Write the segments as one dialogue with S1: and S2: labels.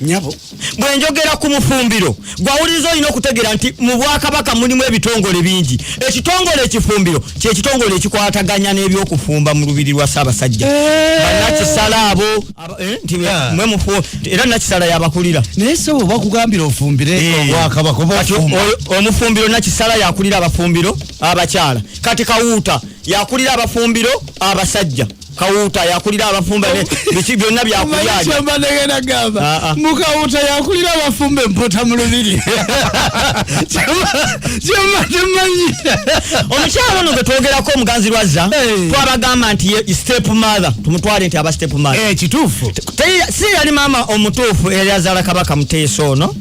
S1: nyabo
S2: bwenjogera
S1: ku mufumbiro gwawuliriza olina okutegeera nti mu bwakabaka mulimu ebitongole bingi ekitongole ekifumbiro kyekitongole ekikwataganya n'ebyokufumba mu lubiri lwa ssaabasajja eh. banakisala abo eh, ah. era nakisala yabakulira naye sebo bakugambira
S2: ofumbire eh. obwakabaka omufumbiro
S1: nakisala yakulira abafumbiro abakyala kati kawuuta yakulira abafumbiro abasajja kawuuta yakulira abafumbe biki byonna byakulyaakyemba negenda
S2: gamba ah, ah. mukawuuta yakulira abafumbe mpota mu lubiri kyembatemanyi omukyalo
S1: ono gwe twogerako omuganzi lwazza twabagamba nti step mother tumutwale nti aba step mother eh, kituufu
S2: si yali
S1: maama omutuufu eyazaala kabaka muteesa ono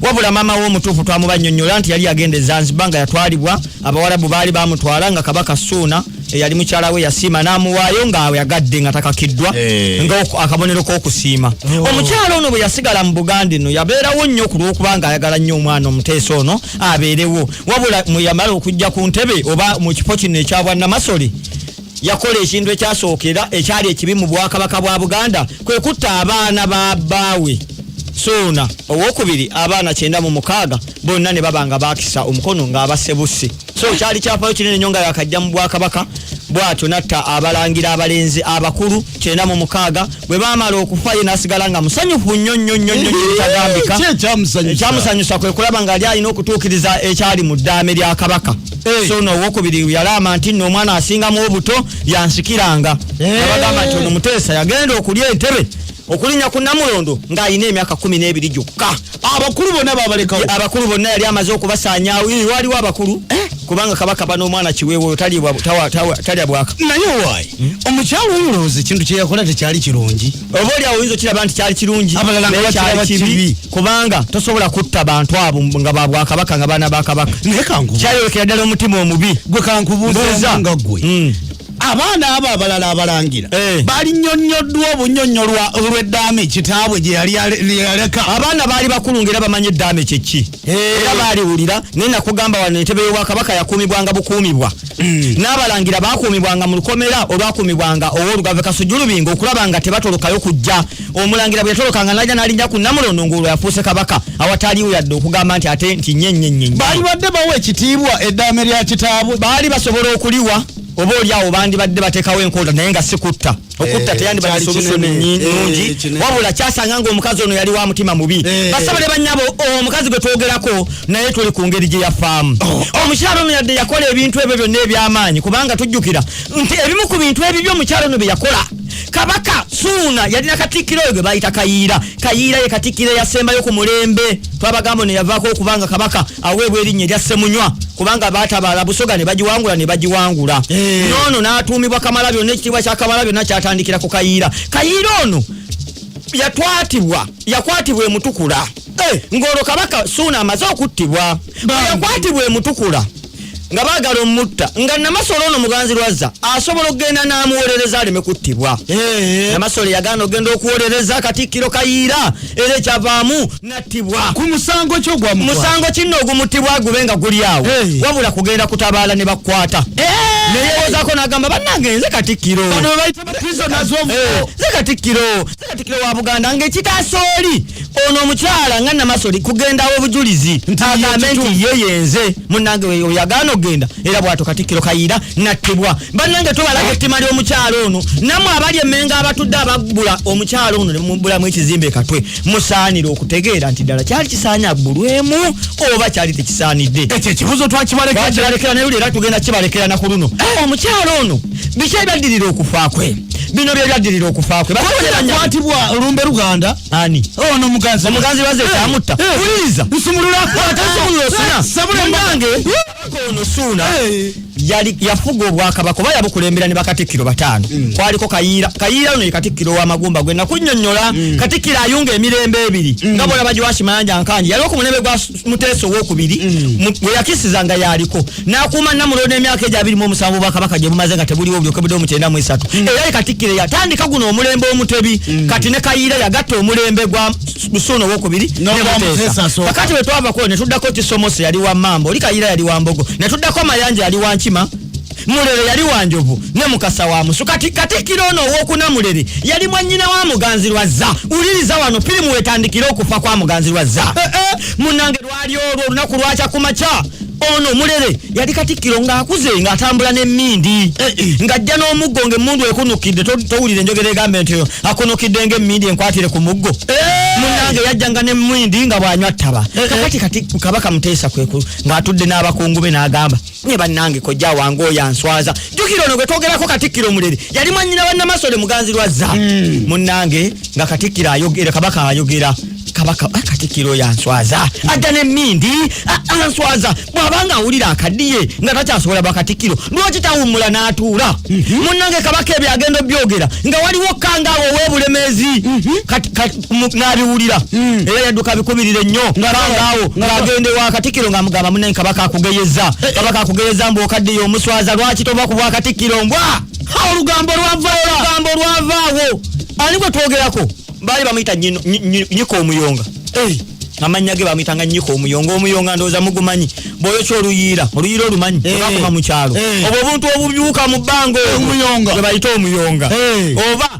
S1: wabula maama we omutuufu twamubanyonyola nti yali agenda ezanziba nga yatwalibwa abawarabu baali bamutwala nga kabaka suuna eyali mukyala we yasiima n'amuwaayo ng'ayagadde nga takakiddwa eh. nga akabonero k'okusiima oh. omukyala ono bwe yasigala mu buganda eno yabeerawo nnyo ku lw'okuba ng'ayagala nnyo omwana omuteesa ono abeerewo wabula mwe yamala okujja ku ntebe oba mu kifo kino ekya bwannamasole yakola ekintu ekyasookera ekyali ekibi mu bwakabaka bwa buganda kwe kutta abaana ba bbaawe suuna owokubiri abaana kyenda mu mukaaga bonna ne baba nga baakisa omukono ng'abasebuse so kyali kyafayo kinene nyo nga yakajja mu bwakabaka bwatyo natta abalangira abalenzi abakulu kyenda mu mukaaga bwe baamala okufa ye n'asigala nga musanyufu nnyo nnyo nnyo nnyo kitagambika ekyamusanyusa kwe kulaba nga ali alina okutuukiriza ekyali mu ddaame lya kabaka eh. so noowokubiri yalaama nti nno omwana asingamu obuto yansikiranga eh. abagamba nti ono muteesa yagenda okulya entebe okulinya ku namulondo ng'alina emyaka kumi n'ebiri gyokka abakulu bonna
S2: babalekawo abakulu bonna yali amaze
S1: okubasaanyawo waliwo abakulu eh? kubanga kabaka bana omwana kiweewo talya bwaka naye owaayi
S2: hmm? omukyalo oyo olowooza ekintu kye yakola tekyali kirungi oba oli awo oyinza okiraba
S1: nti kyali kirungi abalalakyali
S2: kibi kubanga tosobola
S1: kutta bantu abo nga babwakabaka nga baana bakabaka naye kankukyayolekera
S2: ddala omutima
S1: omubi gwe kankubuuza
S2: nga gwe hmm. abaana abo abalala abalangira eh. balinyonyoddwa obunyonyolwa olw'eddaame kitaabwe gyeyaleka abaana baali bakulu
S1: ngaera bamanyi eddaame kyekki eh. era baaliwulira naye nakugamba wano entebe y'obwakabaka yakuumibwanga bukuumibwa hmm. n'abalangira bakuumibwanga mu lukomera olwakuumibwanga ow'olugave kasujulubinga okulaba nga tebatolokayo kujja omulangira bwe yatolokanga naja n'alinnya ku namulondo ng'olwo yafuuse kabaka awataaliwo yadde okugamba nti ate nti nyenyenyenye baali badde bawa
S2: ekitiibwa eddaame lya kitaabwe baali basobola okuliwa
S1: oba oli awo bandibadde batekawo enkola naye nga sikutta okutta eh, teyandibadde solution nungi eh, wabula kyasanga nga omukazi ono yali wa mutima mubi eh. basaba ne banyabo oh, omukazi gwe twogerako naye tuli ku ngeri gye yafaamu oh, oh. omukyalo ono yadde yakola ebintu ebyo byonna eby'amaanyi kubanga tujjukira nti ebimu ku bintu ebibyo omukyalo ono bye yakola kabaka suuna yalina katikkiro oyo gwe bayita kayiira kayiira ye katikkiro eyasembayo ku mulembe twabagamba ono yavaako okubanga kabaka aweebwa erinnya erya ssemunywa kubanga baatabaala busoga ne bagiwangula ne bagiwangula eh. noono n'atuumibwa kamala byonna ekitiibwa kya kamala byonna kyatandikira ku kayiira kayiira ono yatwatibwa yakwatibwa emutukula eh. ng'olwo kabaka suuna amaze okuttibwa yakwatibwa emutukula nga baagala omutta nga namasole ono muganzi lwazza asobola okugenda n'amuwolereza aleme kuttibwa namasole yagaana okugenda okuwolereza katikkiro kayiira era ekyavaamu nattibwa ku musango kyo
S2: gwa musango kinno ogumuttibwa
S1: gube nga guli awo wabula kugenda kutabaala ne bakwata neyewozako n'agamba bannange nze katikkiro
S2: nze katikkiro
S1: katikiro wa buganda ngekitaasa oli ono omukyala nga namasoli kugendawo obujulizi agambe nti ye yenze munange oyagaana okugenda era bwato katikiro kayira nattibwa banange tubalaga ettima ly'omukyala ono namwe abali emenga abatudde abagula omukyala ono nemubulamu ekizimba ekatwe musaanire okutegeera nti ddala kyali kisaanye aggulwemu oba kyali tekisaanidde ekyo ekibuzo
S2: twakibalekera naye lero tugenda
S1: kibalekera nakuluno eh! omukyala ono biki ebyaddirira okufa kwe bino byebyadirira okufa kwe bakwatibwa olumbe
S2: luganda ani ono oh,
S1: muganzi omuganzi
S2: baze
S1: kyamutta eh, eh, wuliriza eh, nsumulula akwata nsumulula osuna sabulange ono suuna yali yafuga obwakabaka oba yabukulembera ne bakatikkiro bataano mm. kwaliko kayiira kayiira ono ye katikkiro w'amagumba gwe nakunyonyola mm. katikkiro ayunga emirembe ebiri mm. nga bona bagiwakimayanja nkanji yali okumulembe gwa muteesa owokubiri mm. weyakisiza nga yaliko nakuuma namulondo emyaka egyo abiri mu omusanvu bwakabaka gye bumaze nga tebuliwo obulyokebudde omukyenda mu esatu mm. era katikkiro yatandika guno omulembe omutebi mm. kati ne kayiira yagatta omulembe gwa lusuuna owokubiri kakati bwe twavako ne tuddako kisomosi yali wa mambo oli kayiira yali wa mbogo ne tuddako mayanja yali wa nkima mulere yali wanjovu ne mukasa wa musu kati katikiro ono owokuna mulere yali mwanyina wa muganzi lwazza uliriza wano firimu wetandikira okufa kwa muganzi lwazza eh, eh, munange lwali olwo olunaku lwakya ku makya ono mulere yali katikiro ngaakuze ngaatambula nemindi eh, ngajja n'omuggo ngaemundu ekunukidde towulira enjogera egambe nti akunukidde ngaemindi enkwatire ku muggo munange yajjanga nemindi nga bwanywa ttaba kakati kati kabaka muteesa kweku ngaatudde n'abakungu be n'agamba nye bannange kojja wange oyo answaza jjukira ono gwe twogerako katikkiro omulere yali mwannyina wa namasole muganzi lwazza hmm. munnange nga katikkiro ayogera kabaka ayogera kabaka ah, katikkiro oyo answaza hmm. adda n'emmindi ah, ah, answaza bw'aba nga awulira akaddiye nga takyasobola bakatikkiro lwaki tawummula n'atuula hmm. munnange kabaka ebyo agenda obyogera nga waliwo kangaawo ow'obulemeezi n'abiwulira hmm. era yadduka abikubirira ennyo ngaawo ng'agenda ewa katikkiro ng'amugamba munanyi kabaka akugeyeza eh, eh. kabaka akugeyeza mbu okaddiyo omuswaza lwaki tova ku bwa katikkiro mbwa olugambo lwavaaolugambo lwavaawo ani gwe twogerako baali bamuyita nyika omuyonga eh. amannya ge bamuyitanga nyika omuyonga omuyonga ndowooza mugumanyi bwoyokya oluyiira oluyiira olumanyi bakuma mu kyalo obwo obuntu obubyuka mu bbanga omuyonga gwe bayita omuyonga oba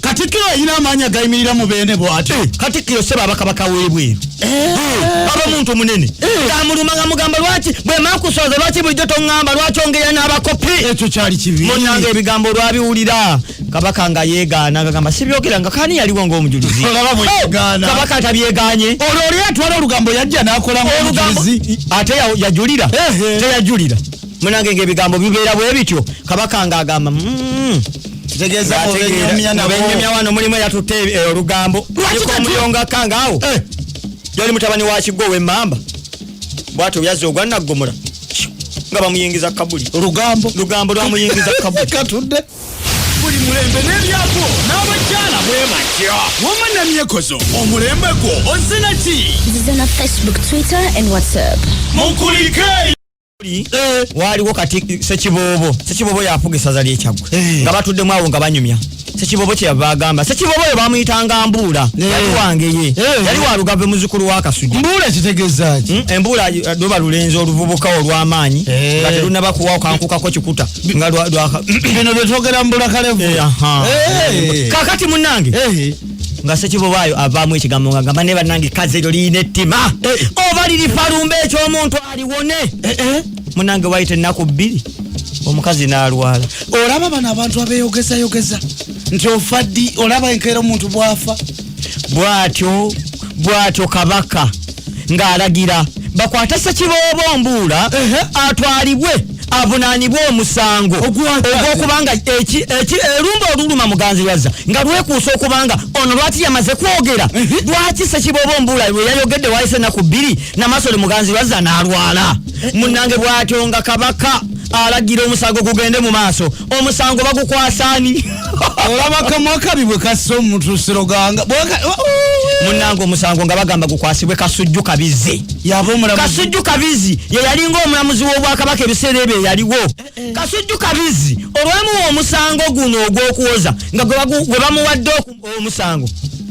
S1: katikkiro alina amaanyi agayimirira mu beene bwati eh. katikkiro seba abakabaka webweru eh. eh. aba muntu munene amuluma nga mugamba lwaki bwemakusooza lwaki bulijjo toŋamba lwaki ongera n'abakopi ekyo kyali kibi munanga ebigambo olwabiwulira kabaka nga yegaana ngagamba sibyogera nga kani yaliwo ngaomujulizi kabaka tabyeganye olwo oli atwala olugambo yajja nakola omujulizi ate yajulira teyajulira munange ngaebigambo bibeera bwe bityo kabaka nga agamba mm. kitegeeza mubenyumya nabo mubenyumya wano mulimu eyatutte eh, olugambo lwakiko omuyonga kanga awo eh. yali mutabani wa kigo w'emmamba bwatyo byazza ogwa naggomola nga bamuyingiza kabuli lugambo lugambo lwamuyingiza kabuli katudde buli mulembe n'ebyako n'abakyala bwe batya wama namyekozo omulembe gwo ozina ki nzize na facebook
S3: twitter and whatsapp mukulike
S1: Eh. waliwo kati sekibobo sekibobo yafuga esaza lyekyagwe eh. nga batuddemu awo nga banyumya sekibobo kyeyava agamba sekibobo oyo bamuyitanga mbuula eh. yali wange ye yali walugave muzukulu wakasuja mbuula kitegezaki hmm? embuula doba lulenzi oluvubuka olwamaanyi nga telunaba kuwa okankukako kikuta nga bino byetwogera mbula kalevu kakati munange nga sekibobaayo avaamu ekigambo nga gamba ne banange kazi eryo liyina ettima eh, eh. oba liri falumba ekyomuntu aliwone eh, munange wayita ennaku bbiri omukazi n'alwala olaba bano abantu abeyogezayogeza nti ofa ddi olaba enkeera omuntu bwafa bwatyo bwatyo kabaka ng'alagira bakwate ssekiboobo mbuula atwalibwe avunaanibwe omusango ogw'okubanga erumba oluluma muganzi wazza nga lwekuusa okubanga ono lwaki yamaze kwogera lwaki ssekiboobo mbuula lwe yayogedde wayise ennaku bbiri namasole muganzi wazza n'alwala munnange bw'atyo nga kabaka alagira omusango gugende mu maaso omusango bagukwasani olaba kamwa kabi bwe kassa omuntu siroganga munange omusango nga bagamba gukwasibwe kasujju kabizi kasujju kabizi yeyalinga omulamuzi w'obwakabaka ebiseera ebyo eyaliwo eh, eh. kasujju kabizi olwamuwa omusango guno ogw'okuwoza nga gwe bamuwadde omusango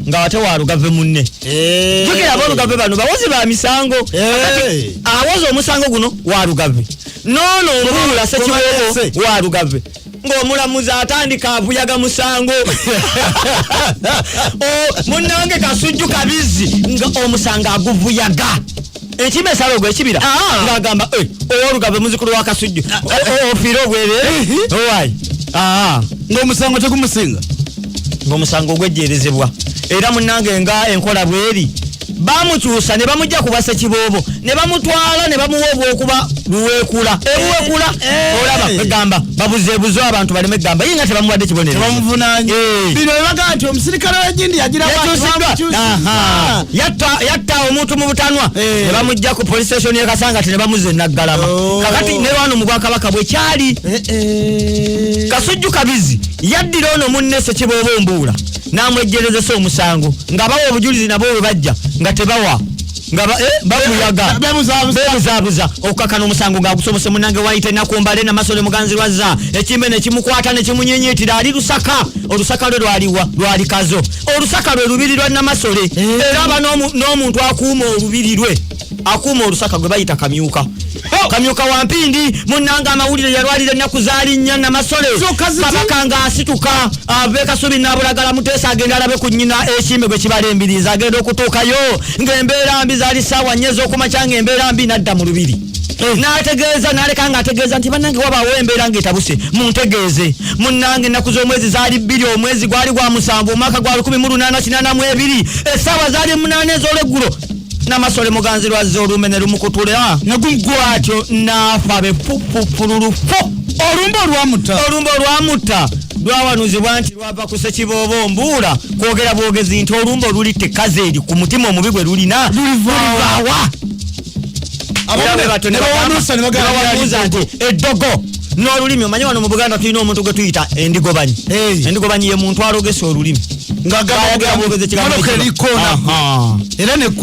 S1: nga wate walugave munne eh. jukira abolugave bano bawozi ba misango awoza omusango guno walugave noono obuula sekiwoogo wa lugave ng'omulamuzi atandika avuyaga musango munnange kasujju kabizzi nga omusango aguvuyaga ekima esalogo ekibira ah. ng'agamba eh, owolugave muzikulu wa kasujju ah. ofiire obwerere owayi ah. ng'omusango tegumusinga ng'omusango ogwejjeerezebwa era munnange nga enkola bweri baamukyusa ne bamujja ku basekiboobo ne bamutwala ne bamuwa obwokuba luweekula ebuweekula eh, eh, eh. olaba egamba babuzeebuze abantu baleme egamba ye nga tebamuwadde kibonerobamuvunanye
S2: bino bebagaa nti omusirikale wegindi yagirayatta
S1: omuntu mu butanwa ne bamujja ku police station ye kasanga ti ne bamuze naggalama oh. kakati ne wano mu bwakabaka bwe kyali kasujju kabizi yaddira ono munne sekiboobo mbuula n'amwejjerezesa omusango nga bawa obujulizi nabo bwe bajja nga tebawa nga eh, babuyaga bebuzaabuza okukakana omusango ng'agusobose munange wayita ennaku mbale namasole muganzi lwazza ekimbe ne kimukwata ne kimunyenyeetira ali lusaka olusaka lwe lwaliwa lwalikazo olusaka lwe lubiri lwa namasole eh. era aba n'omuntu akuuma olubiri lwe akuuma olusaka gwe bayita kamyuka oh! kamyuka wa mpindi munnanga amawulire yalwalira ennaku zaali nnya namasole kabaka nga asituka ave ah, kasubi nabulagala muteesa agenda alabe ku nnyina ekimbe gwe kibala embirizi agenda okutuukayo ng'embeera mbi zaali ssaawa nnya ez'okumakya ng'embeera mbi nadda mu lubiri eh. nategeeza naleka nga ategeeza nti banange wabaawo embeera ngaetabuse muntegeeze munnange ennaku z'omwezi zaali bbiri omwezi gwali gwa musanvu omwaka gwa lukumi mu lunaana kinaana mu ebiri essaawa zaali munaana ez'olweggulo namasole muganzi lwazza olumbe ne lumukutula ne gumgwatyo naafa be fufufululu fo olumbe olwamutta olumbe olwamutta lwawanuzibwa nti lwava ku sekiboobo mbuula kwogera bwogezi nti olumbe oluli tekazi eri ku mutima omubi gwe lulina lulivawa abamu ne bawanusa ne bagamba nti eddogo nolulimi omanye wano mu buganda tulina omuntu gwe tuyita endigobanyi endigobanyi ye muntu alogesa olulimi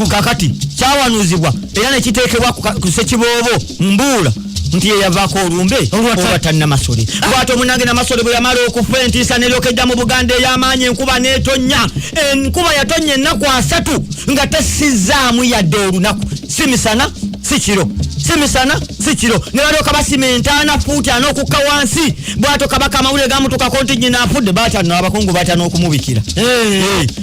S1: kakati kyawanuzibwa era nekiteekebwa ku sekiboobo mbuula nti yeyavaako olumbe olwatta namasole lwati omunange namasole bwe yamala okufa entiisa neryokejja mu buganda ey'amaanyi enkuba n'etonnya enkuba yatonnya ennaku asatu nga tessizaamu yadde olunaku si misana si kiro si misana si kiro ne balyoka basima entaana fuuti ana okukka wansi bwato kabaka amawulire gamutukako nti nyina afudde batya no abakungu batya n'okumubikira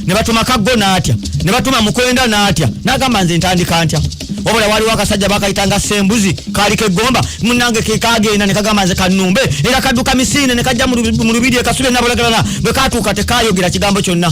S1: ne batuma kaggo n'atya ne batuma mukwenda n'atya n'agamba nze ntandika ntya wabula waliwo akasajja bakayitanga sembuzi kaali kegomba munange kekagenda ne kagamba nze kanumbe era kadduka misiine ne kajja mu lubiri ekasule nabulagalala bwe katuuka tekayogera kigambo kyonna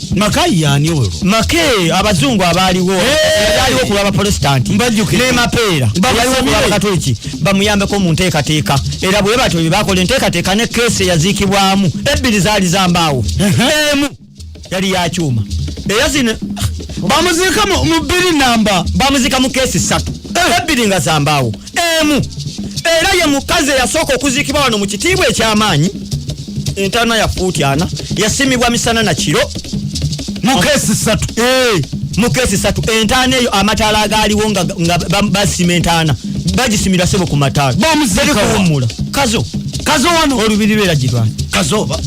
S1: makayi yani oyo make abazungu abaaliwo abaaliwo ku lwabaprotestanti nemapeera abaaliwo ku lwabakatoliki bamuyambeko mu nteekateeka era bwe batyo bye bakola enteekateeka ne keesi eyaziikibwamu ebbiri zaali zambaawo emu yali yakyuma era zino bamuziika mu bbiri namba bamuziika mu keesi ssatu eh. ebbiri nga zambaawo emu era ye mukazi eyasooka okuziikibwa wano mu kitiibwa eky'amaanyi entaana ya fuuti ana yasimibwa misana na kiro mukeesi satu eh, mukeesi satu entaana eyo amataala agaaliwo nga basima entaana bagisimira sebo ku mataala bamuziikawummula kazo kazo wano olubiri lwera girwana kazoba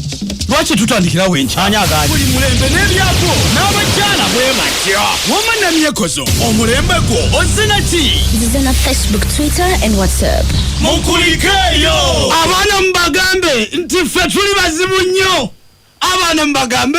S1: lwaki tutandikira wenki ani agani buli mulembe n'ebyako n'abakyala bwe batya wama namyekozo omulembe gwo ozina ki nzize na facebook
S3: twitter and whatsapp mukulikeeyo
S2: abaana mubagambe nti ffe tuli bazibu nnyo abaana mubagambe